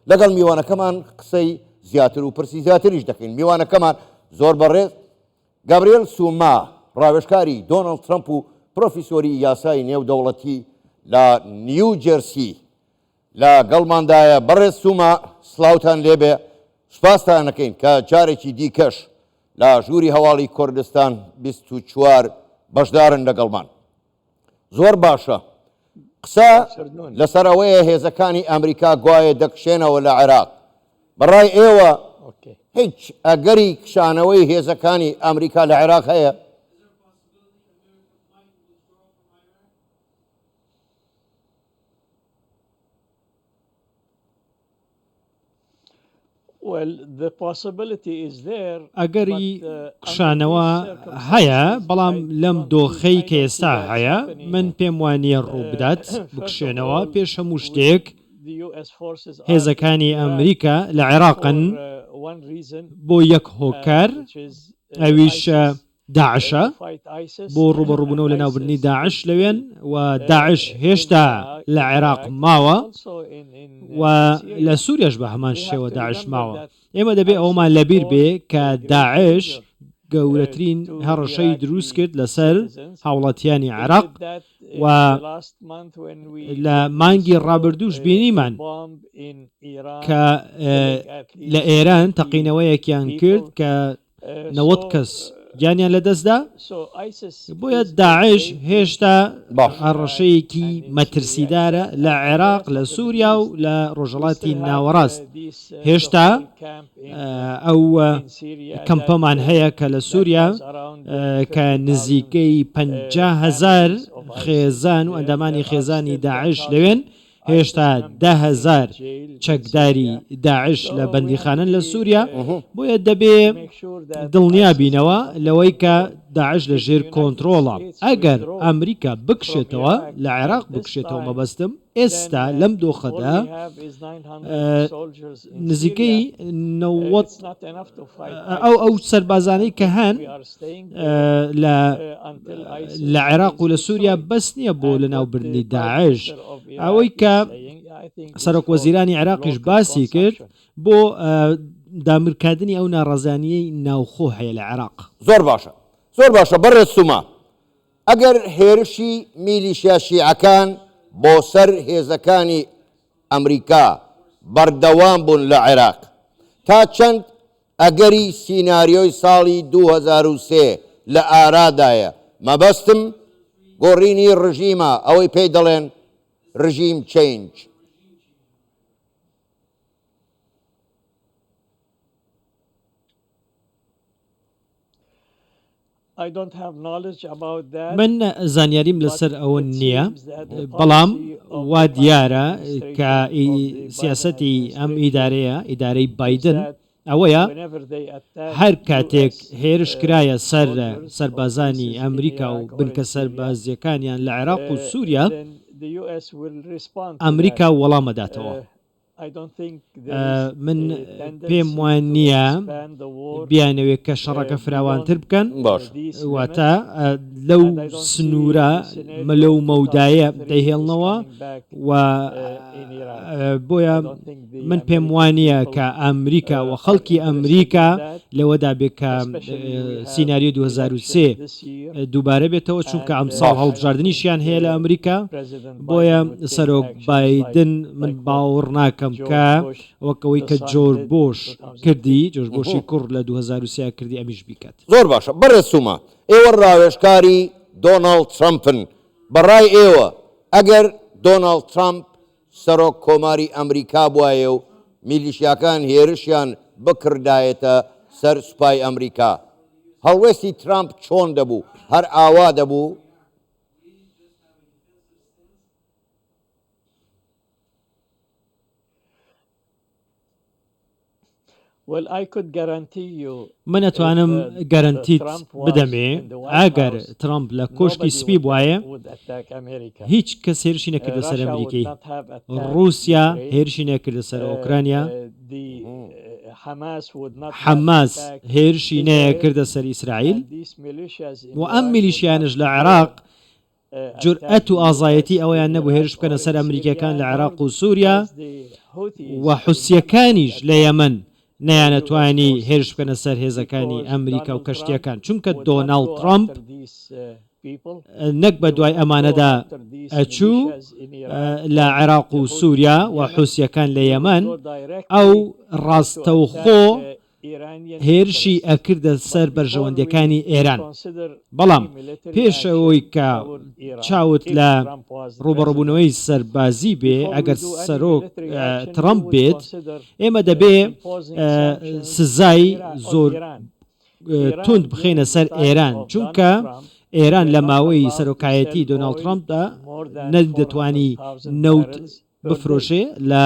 لەگەڵ میوانەکەمان قسەی زیاتر و پرسی زیاتریش دەکەین میوانەکەمان زۆر بەڕێز گابریل سوما ڕاوێشکاری دۆناڵد ترەمپ و پرۆفیسۆری یاسای نێودەوڵەتی لە نیو جێرسی لە گەڵماندایە بەڕێز سوما سلااوان لێبێ سوپاستانەکەین کە جارێکی دیکەش لە ژووری هەواڵی کوردستان 24 بەشدارن لەگەڵمان زۆر باشە. قسە لەسەر ئەوەیە هێزەکانی ئەمریکا گوایە دەکشێنەوە لە عێراق. بە ڕای ئێوە هیچ ئەگەری کشانەوەی هێزەکانی ئەمریکا لە عێراق هەیە؟ ئەگەری کشانەوە هەیە، بەڵام لەم دۆخەی کە ئێستا هەیە، من پێم وانییە ڕووبدات بکشێنەوە، پێش هەموو شتێک هێزەکانی ئەمریکا لە عێراقن بۆ یەک هۆکار ئەویش داعشە بۆ ڕوبەڕوبونەوە لەناوبردنی داعش لەوێن و داعش هێشتا لە عێراق ماوە و لە سوریاش بە هەمان شێوە داعش ماوە ئێمە دەبێ ئەومان لەبیر بێ کە داعش گەورەترین هەڕەشەی دروست کرد لەسەر هاوڵاتیانی عراق و لە مانگی ڕابردوش بینیمان کە لە ئێران تەقینەوەیەکیان کرد کە نەوەد کەس گیانیان لەدەستدا، بۆیە داعش هێشتا هەڕەشەیەکی مەترسیدارە لە عێراق، لە سووریا و لە ڕۆژهەڵاتی ناوەڕاست. هێشتا ئەو کەمپەمان هەیە کە لە سووریا کە نزیکەی پەنجا هەزار خێزان و ئەندامانی خێزانی داعش لەوێن، هێشتا دە هەزار چەکداری داعش لە بەندیخانن لە سووریا بۆیە دەبێ دڵنیا بینەوە لەوەی کە داعش لە ژێر کۆنتترۆڵە ئەگەر ئەمریکا بکشێتەوە لە عێراق بکشێتەوە مەبەستم ئێستا لەم دۆخەدا نزیکەی نەوەد ئەو ئەو سەربازانەی کە هەن لە عێراق و لە سووریا بەس نییە بۆ لە ناوبردنی داعش ئەوەی کە سەرۆک وەزیرانی عێراقیش باسی کرد بۆ دامرکادنی ئەو ناڕزانیی ناوخۆ هەیە لە عێراق زۆر باشە زۆر باشە بەڕێز سوما ئەگەر هێرشی میلیشیا شیعەکان بۆ سەر هێزەکانی ئەمریکا بەردەوام بوون لە عێراق تا چەند ئەگەری سیناریۆی ساڵی دوو هەزار و سێ لە ئارادایە، مەبەستم گۆڕینی ڕژیمە ئەوەی پێی دەڵێن ڕژیم چەینج. من زانیاریم لەسەر ئەوە نییە، بەڵام وا دیارە کە سیاسەتی ئەم ئیدارەیە، ئیدارەی بایدن ئەوەیە هەر کاتێک هێرش کرایە سەر سەربازانی ئەمریکا و بنکە سەربازیەکانیان لە عێراق و سووریا، ئەمریکا وەڵامەداتەوە. من پێم وان نییە بیانەوێت کە شەڕەکە فراوانتر بکەن باش واتە لەو سنوورە مەلە و مەودایە دەهێڵنەوە و بۆیە من پێم وانە کە ئەمریکا و خەڵکی ئەمریکا لەوەدا بێت کە سینناریو 2023 دووبارە بێتەوە چونکە ئەمساڵ هەڵبژاردنیشیان هەیە لە ئەمریکا بۆیە سەرۆک بادن من باوەڕ ناکەم کە وەکەوەی کە جۆر بۆش کردی جۆش بۆشی کوڕ لە 2023 کردی ئەمیش بیکات. زۆر باشە بەڕێز سوما ئێوە ڕاوێژکاری دۆناڵد ترەمپن بەڕای ئێوە ئەگەر دۆناڵد ترەمپ سەرۆک کۆماری ئەمریکا بوایە و میلیشیاکان هێرشیان بکڕدایەتە سەر سوپای ئەمریکا هەڵوێستی ترامپ چۆن دەبوو؟ هەر ئاوا دەبوو؟ من ئەتوانم گەرەنتیت بدەمێ ئەگەر ترەمپ لە کۆشکی سپی بوایە هیچ کەس هێرشی نەکردە سەر ئەمریکی ڕوسیا هێرشی نەکردە سەر ئۆکرانیا حەماس هێرشی نەکردە سەر ئیسرائیل و ئەم میلیشیانش لە عێراق جورئەت و ئازایەتی ئەوەیان نەبوو هێرش بکەنە سەر ئەمریکییەکان لە عێراق و سوریا و حوسییەکانیش لە یەمەن نەیانەتوانی هێرش بکەنە سەر هێزەکانی ئەمریکا و کەشتییەکان چونکە دۆناڵد ترەمپ نەک بە دوای ئەمانەدا ئەچوو لە عێراق و سوریا و حوسییەکان لە یەمەن ئەو ڕاستەوخۆ هێرشی ئەکردە سەر بەرژەوەندیەکانی ئێران بەڵام پێش ئەوەی کە چاوت لە ڕوبەڕبونەوەی سەربازی بێ ئەگەر سەرۆک تڕەمپ بێت ئێمە دەبێ سزای زۆر توند بخینە سەر ئێران چونکە ئێران لە ماوەی سەرۆکایەتی دۆناڵد ترامپدا نەدەتوانی نەوت بفرۆشێ لە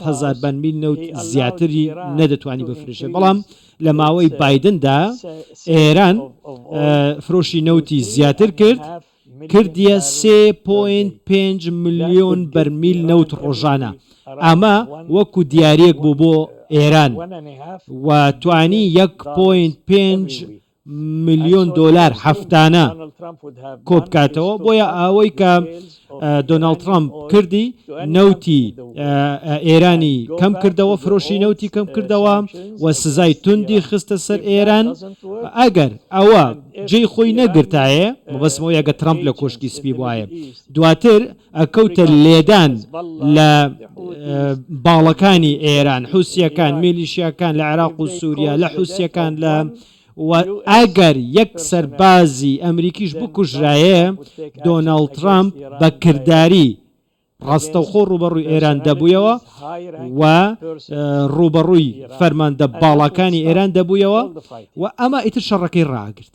هزار بەنمیل نەوت زیاتری نەدەتوانی بفرشێ بەڵام لە ماوەی بادندا ئێران فرۆشی نەوتی زیاتر کرد کردیە 3.5 میلیۆن بەرمیل نەوت ڕۆژانە ئەمە وەکو دیارێک بوو بۆ ئێران و توانی 1.5 ملیۆن دۆلار هەفتانە کۆبکاتەوە بۆیە ئەوەی کە دۆناڵد ترامپ کردی نەوتی ئێرانی کەم کردەوە فرۆشی نەوتی کەم کردەوە و سزای توندی خستە سەر ئێران ئەگەر ئەوە جێی خۆی نەگرتایە مەبەسمەوە یەگە ترامپ لە کۆشکی سپی وایە دواتر ئەکەوتە لێدان لە باڵەکانی ئێران حوسیەکان میلیشیاکان لە عێراق و سووریا لە حوسیەکان لە ئەگەر یەک سەربازی ئەمریکیش بکوژرایە دۆناڵد ترامپ بە کردداری ڕاستەوخۆ ڕوبەڕووی ئێران دەبوویەوە و ڕوبەڕووی فەرماندە باڵاکانی ئێران دەبوویەوە و ئەمە ئیتر شەڕەکەی ڕاگرت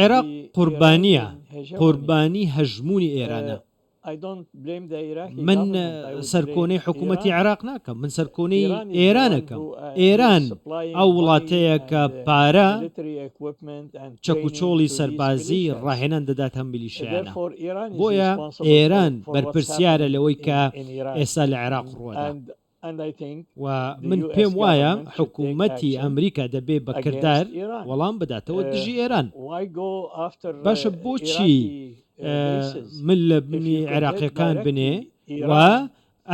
عێراق قوربانییە، قوربانی هەژموونی ئێرانە. من سەرکۆنەی حکوومەتی عێراق ناکەم، من سەرکۆنەی ئێران ئەکەم. ئێران ئەو وڵاتەیە کە پارە، چەک و چۆڵی سەربازی ڕاهێنان دەداتە ئەم میلیشیایانە، بۆیە ئێران بەرپرسیارە لەوەی کە ئێستا لە عێراق ڕووەدا و من پێم وایە حکومەتی ئەمریکا دەبێ بە کردار وەڵام بداتەوە دژی ئێران. باشە بۆچی مل لە بنی عێراقیەکان بنێ و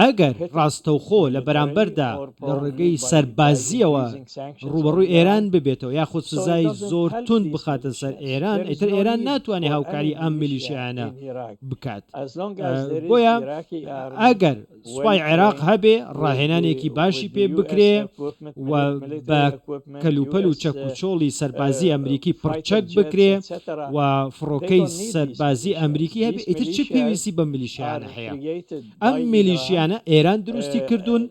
ئەگەر ڕاستەوخۆ لە بەرامبەردا لە ڕێگەی سەربازییەوە ڕووبەڕووی ئێران ببێتەوە یاخود سزای زۆر توند بخاتە سەر ئێران، ئیتر ئێران ناتوانێت هاوکاری ئەم میلیشیایانە بکات. بۆیە ئەگەر سوپای عێراق هەبێ، ڕاهێنانێکی باشی پێ بکرێ و بە کەلوپەل و چەکوچۆڵی سەربازیی ئەمریکی پڕچەک بکرێ و فڕۆکەی سەربازیی ئەمریکی هەبێ، ئیتر چ پێویستی بەم میلیشیایانە هەیە؟ ئەم میلیشیانە ئێران دروستی کردوون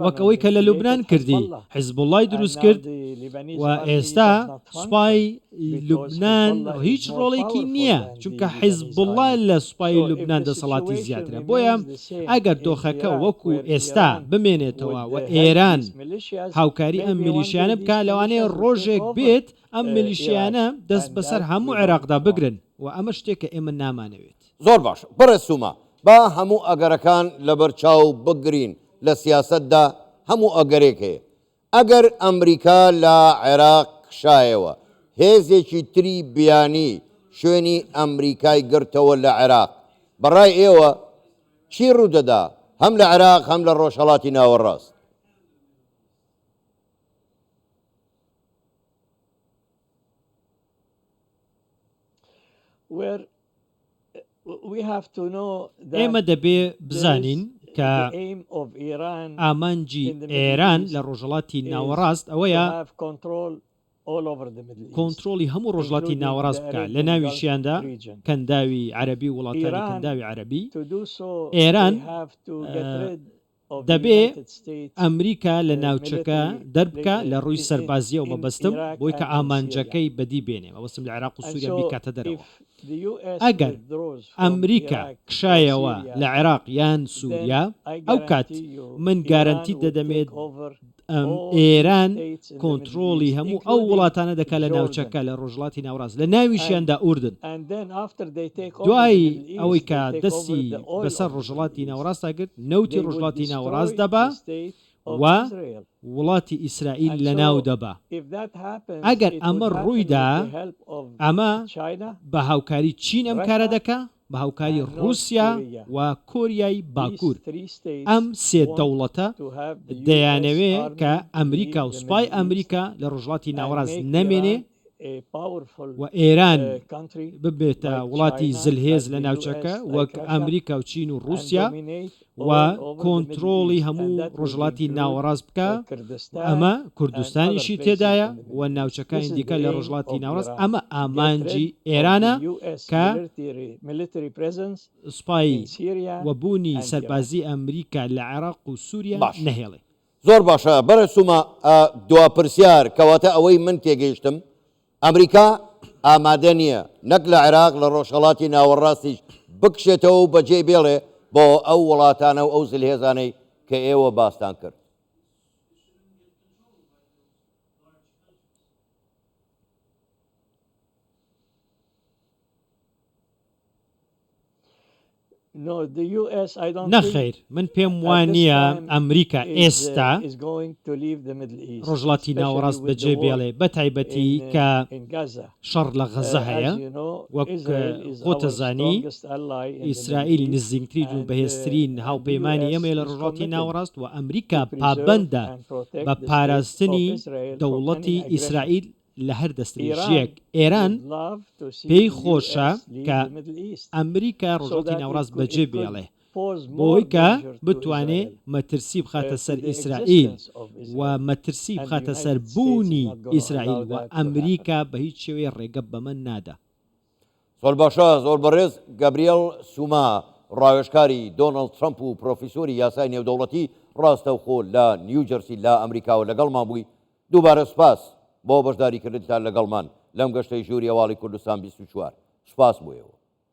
وەک ئەوەی کە لە لوبنان کردی حزبوڵای دروست کرد و ئێستا سوپای لوبنان هیچ ڕۆڵێکی نییە چونکە حزبوڵا لە سوپای لوبنان دەسەڵاتی زیاترە بۆیە ئەگەر دۆخەکە وەکو ئێستا بمێنێتەوە و ئێران هاوکاری ئەم میلیشیانە بکە لەوانەیە ڕۆژێک بێت ئەم میلیشیانە دەست بەسەر هەموو عێراقدا بگرن و ئەمە شتێکە ئێمە نامانەوێت زۆر باش بەڕێز سوما، با هەموو ئەگەرەکان لەبەر چاو بگرین، لە سیاسەتدا هەموو ئەگەرێک هەیە، ئەگەر ئەمریکا لە عێراق کشایەوە، هێزێکی تری بیانی شوێنی ئەمریکای گرتەوە لە عێراق، بە ڕای ئێوە چی ڕوودەدا هەم لە عێراق هەم لە ڕۆژهەڵاتی ناوەڕاست؟ ئێمە دەبێ بزانین کە ئامانجی ئێران لە ڕۆژهەڵاتی ناوەڕاست ئەوەیە کۆنتترۆلی هەموو ڕۆژڵاتی ناوەڕاست بکە لە ناویشیاندا کەنداوی عەربی وڵاتانی کەنداوی عەربی ئێران دەبێ ئەمریکا لە ناوچەکە دەربکا لە ڕووی سەربازییەوە مەبەستم بۆی کە ئامانجەکەی بەدی بێنێ مەبەستم لە عێراق و سووریا بیکاتە دەرەوە ئەگەر ئەمریکا کشایەوە لە عێراق یان سووریا ئەوکات من گارەنتیت دەدەمێ ئێران کۆنتڕۆڵی هەموو ئەو وڵاتانە دەکا لە ناوچەکە لە ڕۆژڵاتی ناوڕاست لە ناویشیاندا ئوردن دوایی ئەوەی کە دەستی بەسەر ڕۆژڵاتی ناوڕاستە گرت نەوتی ڕۆژڵاتی ناوڕاست دەبا و وڵاتی ئیسرائیل لە ناو دەبا ئەگەر ئەمە ڕوویدا ئەمە بە هاوکاری چین ئەم کارە دەکە بە هاوکاری ڕووسیا و کۆریای باکوور، ئەم سێ دەوڵەتە دەیانەوێ کە ئەمریکا و سوپای ئەمریکا لە ڕۆژهەڵاتی ناوەڕاست نەمێنێ و ئێران ببێتە وڵاتی زلهێز لە ناوچەکە وەک ئەمریکا و چین و ڕووسیا و کۆنترۆڵی هەموو ڕۆژهەڵاتی ناوەڕاست بکە ئەمە کوردستانیشی تێدایە و ناوچەکانی دیکە لە ڕۆژهڵاتی ناوەڕاست ئەمە ئامانجی ئێرانە کە سوپایی و بوونی سەربازی ئەمریکا لە عێراق و سووریا نەهێڵێ. زۆر باشە بەڕێز سوما، دوا پرسیار، کەواتە ئەوەی من تێگەیشتم، ئەمریکا ئامادە نییە نەک لە عێراق لە ڕۆژهەڵاتی ناوەڕاستیش بکشێتەوە و بەجێی بێڵێ بۆ ئەو وڵاتانە و ئەو زلهێزانەی کە ئێوە باستان کرد. نەخەیر، من پێم وا نییە ئەمریکا ئێستا ڕۆژهەڵاتی ناوەڕاست بەجێ بێڵێ بە تایبەتی کە شەڕ لە غەزە هەیە، وەک خۆتە زانی ئیسرائیل نزیکترین و بەهێزترین هاوپەیمانی ئێمەیە لە ڕۆژهەڵاتی ناوەڕاست و ئەمریکا پابەندە بە پاراستنی دەوڵەتی ئیسرائیل لە هەر دەستدرێژییەک ئێران پێی خۆشە کە ئەمریکا ڕۆژهەڵتی ناوەڕاست بەجێ بێڵێ بۆی کە بتوانێ مەترسی بخاتە سەر ئیسرائیل و مەترسی بخاتە سەر بوونی ئیسرائیل و ئەمریکا بە هیچ شێوەیە ڕێگە بەمە نادا. زۆر باشە زۆر بەڕێز گابریێل سوما ڕاوێژکاری دۆناڵد ترەمپ و پرۆفیسۆری یاسای نێودەوڵەتی ڕاستەوخۆ لە نیوجەرسی لە ئەمریکاوە لەگەڵمان بووی دووبارە سپاس بۆ بەشداریکردنتان لەگەڵمان لەم گەشتەی ژووری هەواڵی کوردستان بیست و چوار. سپاس بۆ ئێوە.